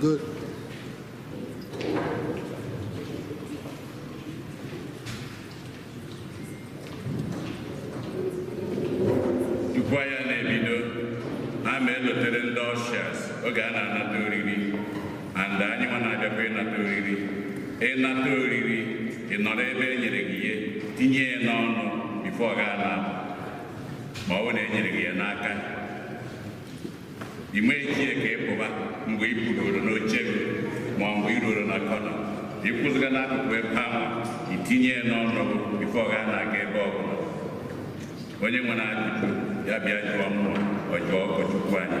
Good. Tupu anyị a na-ebido, a ma elotere ndị ushers oge a na-anata oriri and anyị nwa na-abịakwa ịnata oriri ịnata oriri ị nọrọ ebe e nyere gị ihe tinye ya n'ọnụ before ị gaa na ma ọ bụ na e nyere gị ya n'aka ị nweghị ike ka ị pụba mgbe ị pụrụoro n'oche gị ma mgbe ị ruoro na corner ịkwụzịga n'akụkụ ebe ahụ itinye ya n'ọnụ before ị gaa na-aga ebe ọ bụla onye nwere ajụjụ ya bịa jụọ mụ or jụọ ụkọchukwu anyị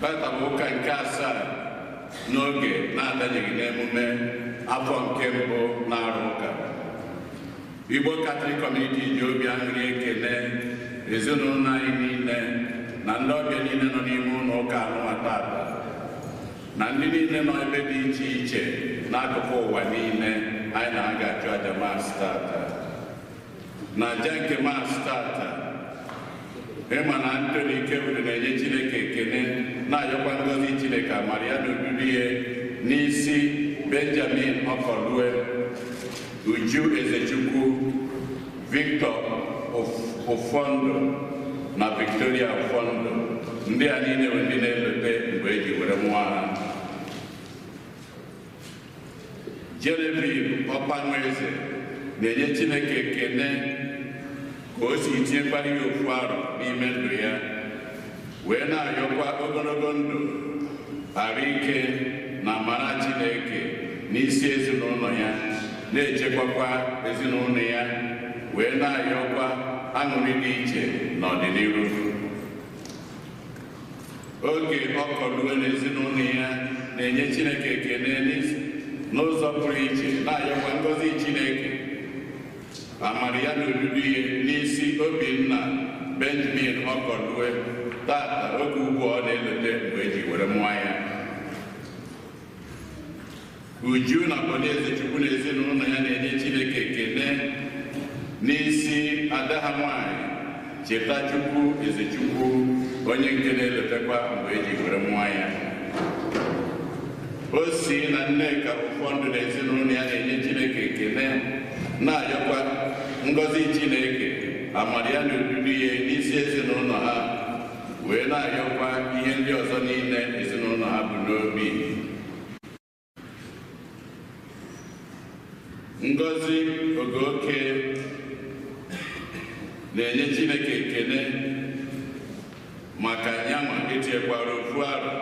tata bụ ụka nke asaa n'oge na-adanyeghị n'emume afọ nke mbụ n'arọ ụka Igbo Catholic Community ji obi aṅụrị ekele ezinụlọ anyị niile na ndị ọbịa niile nọ n'ime ụlọ ụka anụnwa tata na ndị niile nọ ebe dị iche iche n'akụkụ ụwa niile anyị na-aga achụ aja mass tata na aja nke mass tata emma na anthony ikewuru na-enye chineke ekele na-ayọkwa ngọzi chineke amara ya na odudu ya n'isi benjamin ọkọlue uju ezechukwu Victor Ofondo na Victoria Ofondo ndị a niile bụ ndị na-elote mgbe e ji were mụọ ha Genevieve Ọkpanweze na-enye Chineke ekene ka o si tinyekwara ya ofu arọ n'ime ndụ ya wee na-ayọkwa ogologo ndụ arụ ike na amara Chineke n'isi ezinụlọ ya na-echekwakwa ezinụlọ ya wee na-ayọkwa aṅụrị dị iche n'ọdịnihu Oge Ọkọlue na ezinụlọ ya na-enye Chineke ekele n'ụzọ pụrụ iche na-ayọkwa ngọzi Chineke amara ya na odudu ya n'isi Obinna Benjamin Ọkọlue tata oge ugbu ọ na-elote mgbe e ji were mụọ ya Uju na Bon Ezechukwu na ezinụlọ ya na-enye Chineke ekele n'isi ada ha nwanyị Chetachukwu Ezechukwu onye nke na-elotekwa mgbe eji were mụọ ya Osi na Nneka Ufondu na ezinụlọ ya na-enye chineke ekele na-ayọkwa ngọzi chineke amara ya na odudu ya n'isi ezinụlọ ha wee na-ayọkwa ihe ndị ọzọ niile ezinụlọ ha bu n'obi Ngozi Ogoke na-enye Chineke ekele maka nyanwa etinyekwara ofu arọ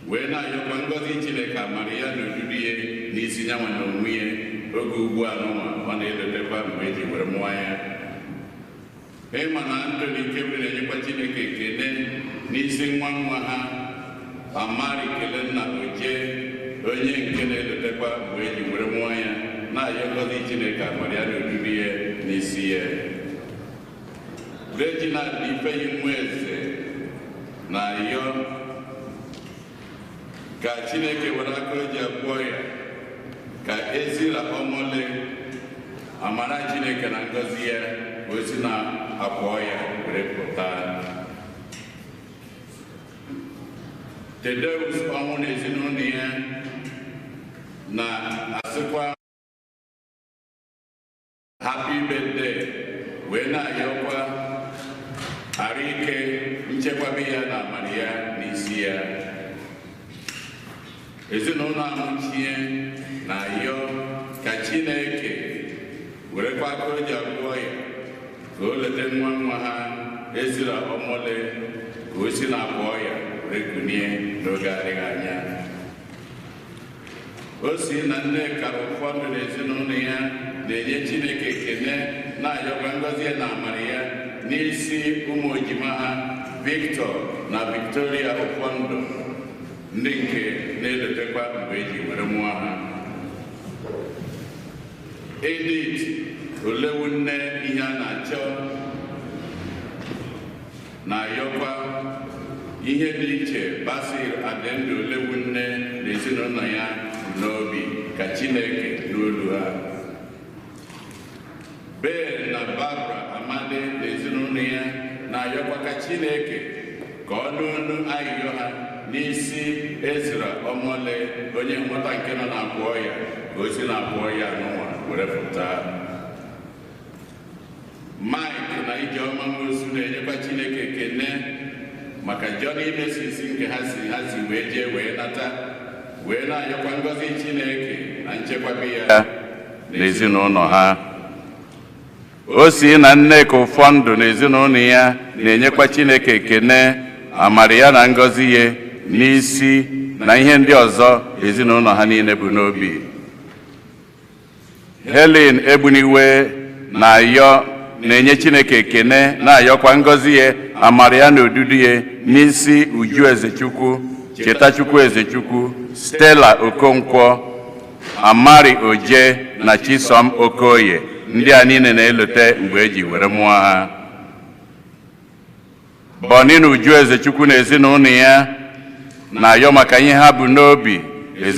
wee na-ayọkwa ngọzi Chineke amara ya na odudu ya n'isi nyanwa na onwe ya oge ugbu a nụnwa ọ na-elotekwa mgbe eji were mụọ ya Emma na Anthony Ikewuru na-enyekwa Chineke ekele n'isi nwa nwa ha Amari Kelenna Oje onye nke na-elotekwa mgbe eji were mụọ ya na-ayọ ngọzi Chineke amara ya na odudu ya n'isi ya Reginald Ifeyinwa Eze na-ayọ ka Chineke were aka o ji agwọ ọya ka Ezra Ọmọle amara Chineke na ngọzi ya ka o si n'akwa ọya were pụta Thaddeus Ọnwụ na ezinụlọ ya na-asịkwa happy birthday wee na-ayọkwa arụ ike nchekwaba ya na amara ya n'isi ya ezinụlọ Amuchie na-ayọ ka chineke werekwa aka o ji agwọ ọya ka o leta nwa nwa ha Ezra Ọmọle ka o si n'akwa ọya were kunie n'oge adịghị anya Osi na Nneka Ufondu na ezinụlọ ya na-enye Chineke ekene na-ayọkwa ngọzi ya na amara ya n'isi ụmụ ejima ha Victor na Victoria Ufondu ndị nke na-elotekwa mgbe eji were mụọ ha Edith Olewunne ihe a na-achọ na-ayọkwa ihe dị iche Basil Adịndụ Olewunne na ezinụlọ ya n'obi ka Chineke nụ olu ha Ben na Barbara Amadi na ezinụlọ ya na-ayọkwa ka Chineke ka ọ nụ olu ayịyọ ha n'isi Ezra Ọmọle onye nwata nke nọ n'akwa ọya ka o si n'akwa ọya nụnwa were pụta Mike na Ijeọma Nwosu na-enyekwa Chineke ekene maka journey mercies nke ha si ha si wee jee wee nata wee na-ayọkwa ngọzi Chineke na nchekwaba ya n'ezinụlọ ha Osi na Nneka Ufondu na ezinụlọ ya na-enyekwa Chineke ekene amara ya na ngọzi ya n'isi na ihe ndị ọzọ ezinụlọ ha niile bu n'obi Helen Egbuniwe na-ayọ na-enye Chineke ekene na-ayọkwa ngọzi ya amara ya na odudu ya n'isi Uju Ezechukwu Chetachukwu Ezechukwu Stella Okonkwo Amari Oje na Chisom Okoye ndị a niile na-elote mgbe e ji were mụọ ha Bọni na Uju Ezechukwu na ezinụlọ ya na-ayọ maka ihe ha bu n'obi ezinụlọ